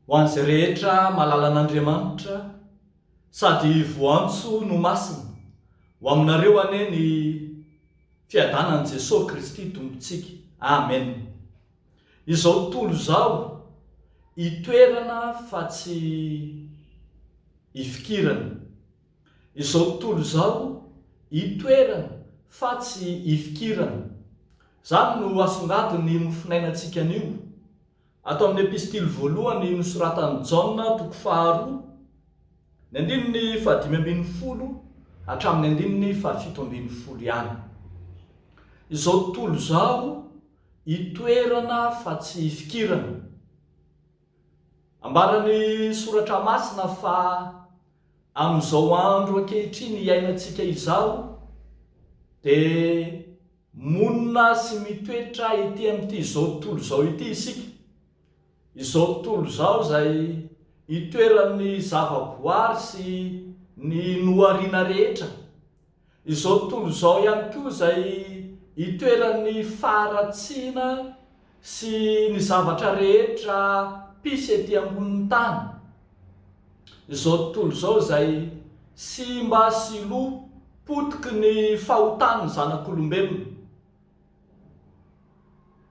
Ho an'izay rehetra mahalala an'Andriamanitra sady voantso no masina, ho aminareo anie ny fiadanan'i Jesoa Kristy Tompontsika. Amen. Izao tontolo izao, itoerana fa tsy ifikirana. Izao tontolo izao, itoerana fa tsy ifikirana. Izany no asongadin'ny mofonainantsika anio. Ato amin'ny Epistily voalohany nosoratan'i Jaona, toko faharoa, ny andininy fahadimy ambin'ny folo hatramin'ny andininy fahafito ambin'ny folo ihany. Izao tontolo izao, Itoerana fa tsy ifikirana. Ambaran'ny Soratra Masina fa amin'izao andro ankehitriny iainantsika izao dia monina sy mitoetra ety amin'ity izao tontolo izao ity isika, izao tontolo izao izay itoeran'ny zavaboary sy ny nohariana rehetra. Izao tontolo izao ihany koa izay itoeran'ny faharatsiana sy ny zavatra rehetra pisy ety ambonin'ny tany. Izao tontolo izao izay simba sy lo potiky ny fahotan'ny zanak'olombelona.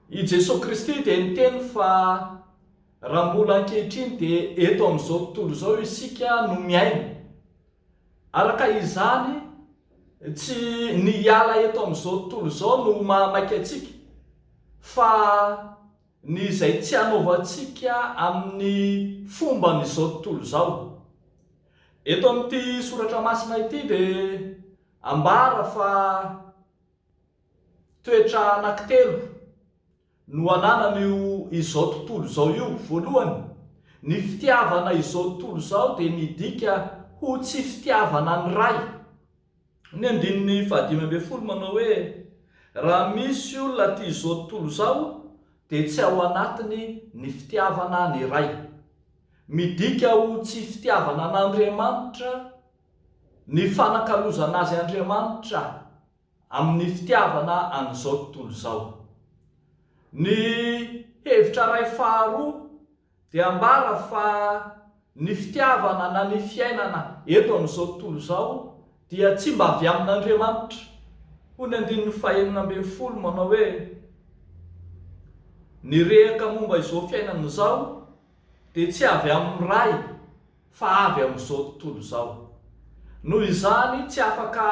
I Jesoa Kristy dia niteny fa raha mbola ankehitriny dia eto amin'izao tontolo izao isika no miaina Araka izany, tsy ny hiala eto amin'izao tontolo izao no mahamaika antsika, fa ny izay tsy hanaovantsika amin'ny fomban'izao tontolo izao. Eto amin'ity soratra masina ity dia ambara fa toetra anankitelo. No ananan'io izao tontolo izao io, voalohany, ny fitiavana izao tontolo izao dia midika ho tsy fitiavana ny Ray. Ny andininy fahadimy ambin'ny folo manao hoe, Raha misy olona tia izao tontolo izao, dia tsy ao anatiny ny fitiavana ny Ray. Midika ho tsy fitiavana an'Andriamanitra ny fanakalozana Azy Andriamanitra. amin'ny fitiavana an'izao tontolo izao. Ny hevitra iray faharoa dia ambara fa ny fitiavana na ny fiainana eto amin'izao tontolo izao dia tsy mba avy amin'Andriamanitra. Hoy ny andininy fahenina ambin'ny folo manao hoe, Ny rehaka momba izao fiainana izao dia tsy avy amin'ny Ray. fa avy amin'izao tontolo izao. Noho izany, tsy afaka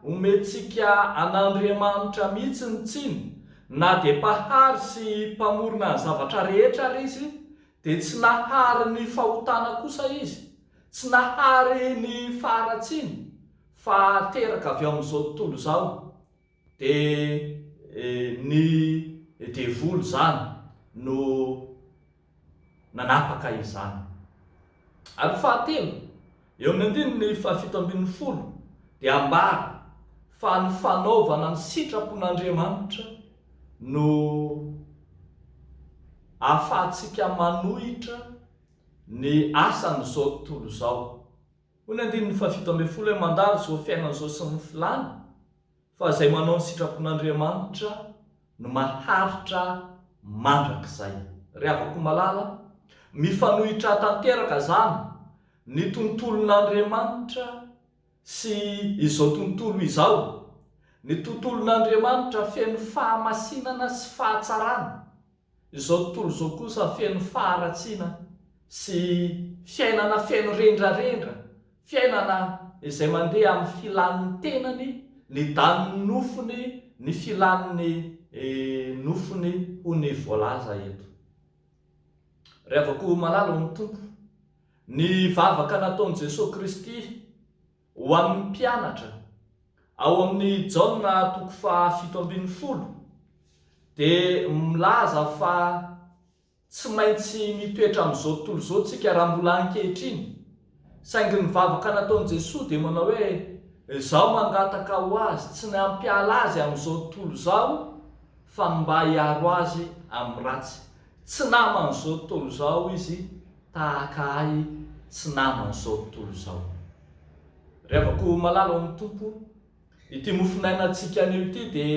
omentsika an'Andriamanitra mihitsy ny tsiny, na dia Mpahary sy Mpamorona ny zavatra rehetra ary Izy, dia tsy nahary ny fahotana kosa Izy, tsy nahary ny faharatsiana, fa teraka avy ao amin'izao tontolo izao, dia ny devoly izany no. nanapaka izany. Ary fahatelo, eo amin'ny andininy fahafito ambin'ny folo dia ambara fa ny fanaovana ny sitrapon'Andriamanitra no ahafahantsika manohitra ny asan'izao tontolo izao. Hoy ny andininy fahafito ambin'ny folo hoe, Mandalo izao fiainana izao sy ny filany. Fa izay manao ny sitrapon'Andriamanitra no maharitra mandrakizay. Ry havako malala, mifanohitra tanteraka izany ny tontolon'Andriamanitra sy izao tontolo izao. Ny tontolon'Andriamanitra feno fahamasinana sy fahatsarana. Izao tontolo izao kosa feno faharatsiana sy fiainana feno rendrarendra, fiainana izay mandeha amin'ny filan'ny tenany, ny danin'ny nofony, ny filan'ny nofony hoy ny voalaza eto. Rehavako malala hoy ny Tompo, ny vavaka nataon'i Jesoa Kristy, Ho an'ny mpianatra, ao amin'ny Jaona toko fahafito ambin'ny folo, dia milaza fa tsy maintsy mitoetra amin'izao tontolo izao isika raha mbola ankehitriny, saingy ny vavaka nataon'i Jesoa dia manao hoe, Izaho mangataka ho azy, tsy ny hampiala azy amin'izao tontolo izao, fa ny mba hiaro azy amin'ny ratsy. Tsy naman'izao tontolo izao izy, tahaka ahy tsy naman' izao tontolo izao. Ry havako malala ao amin'ny Tompo, ity mofonainantsika anio ity dia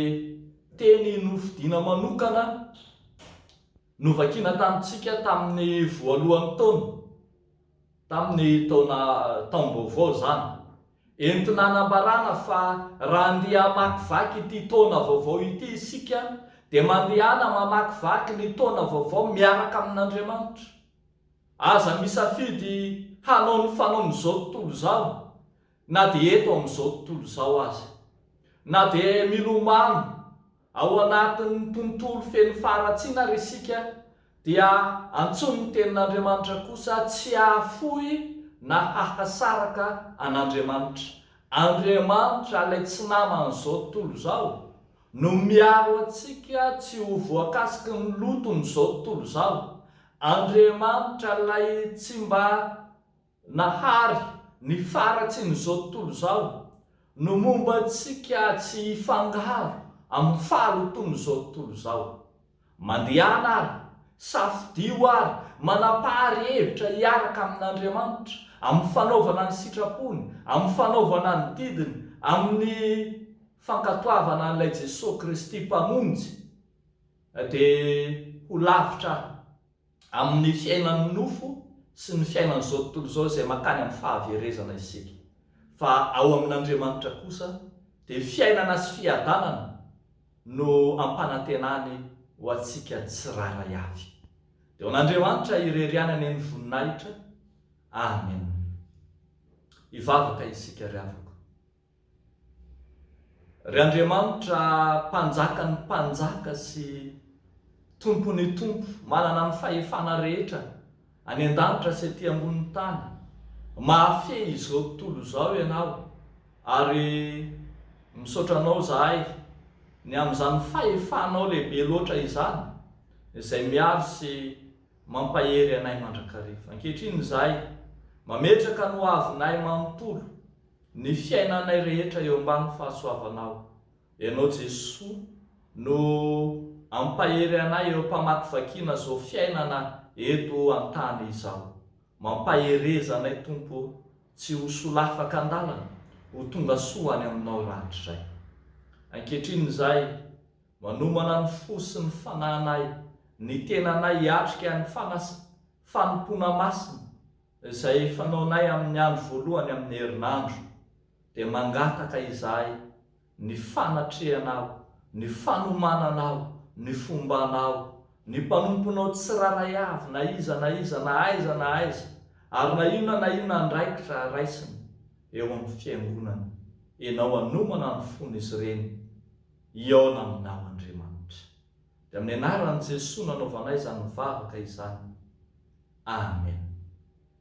teny nofidina manokana novakina tamintsika tamin'ny voalohan'ny taona, tamin'ny taona taom-baovao izany, Entina hanambarana fa raha andeha hamakivaky ity taona vaovao ity isika dia mandehana mamakivaky ny taona vaovao miaraka amin'Andriamanitra. Aza misafidy hanao ny fanaon'izao tontolo izao na dia eto amin'izao tontolo izao aza. Na dia milomano Ao anatin'ny tontolo feno faharatsiana ary isika dia antsoin'ny Tenin'Andriamanitra kosa tsy hahafoy na hahasaraka an'Andriamanitra. Andriamanitra, ilay tsy naman'izao tontolo izao, no miaro antsika tsy ho voakasiky ny loton'izao tontolo izao. Andriamanitra ilay tsy mba Nahary, ny faratsin'izao tontolo izao no momba antsika tsy hifangaro amin'ny fahalotoan'izao tontolo izao. Mandehana ary safidio ary manapahary hevitra hiaraka amin'Andriamanitra, amin'ny fanaovana ny sitrapony, amin'ny fanaovana ny didiny, amin'ny fankatoavana an'ilay Jesoa Kristy Mpamonjy dia ho lavitra aho. Amin'ny fiainan'ny nofo sy ny fiainan'izao tontolo izao izay mankany amin'ny fahaverezana isika. Fa ao amin'Andriamanitra kosa dia fiainana sy fiadanana no ampanantenany ho antsika tsirairay avy. Dia ho an'Andriamanitra irery ihany anie ny voninahitra. Amen. Hivavaka isika ry havako. Ry Andriamanitra Mpanjakan'ny mpanjaka sy Tompon'ny tompo manana ny fahefana rehetra any an-danitra sy aty ambonin'ny tany, mahafehy izao tontolo izao Ianao ary misaotra Anao izahay ny amin'izany fahefanao lehibe loatra izany izay miaro sy mampahery anay mandrakariva. Ankehitriny izahay mametraka ny hoavinay manontolo. Ny fiainanay rehetra eo ambany fahasoavanao. Ianao Jesoa no ampahery anay eo am-pamakivakiana zao fiainana eto an-tany izao. Mampahereza anay Tompo o, tsy ho solafaka an-dalana, ho tonga soa any aminao rahatrizay. Ankehitriny izay, manomana ny fo sy ny fananay, ny tenanay hiatrika ny fanas, fanompoana masina. Izay fanaonay amin'ny andro voalohany amin'ny herinandro dia mangataka izahay ny fanatrehanao, ny fanomananao, ny fombanao, ny mpanomponao tsirairay avy na iza na iza na aiza na aiza ary na inona na inona andraikitra raisiny eo amin'ny fiangonana, Ianao hanomana ny fon'izy ireny hihaona aminao Andriamanitra. Dia amin'ny anaran'i Jesoa nanaovanay izany vavaka izany. Amen.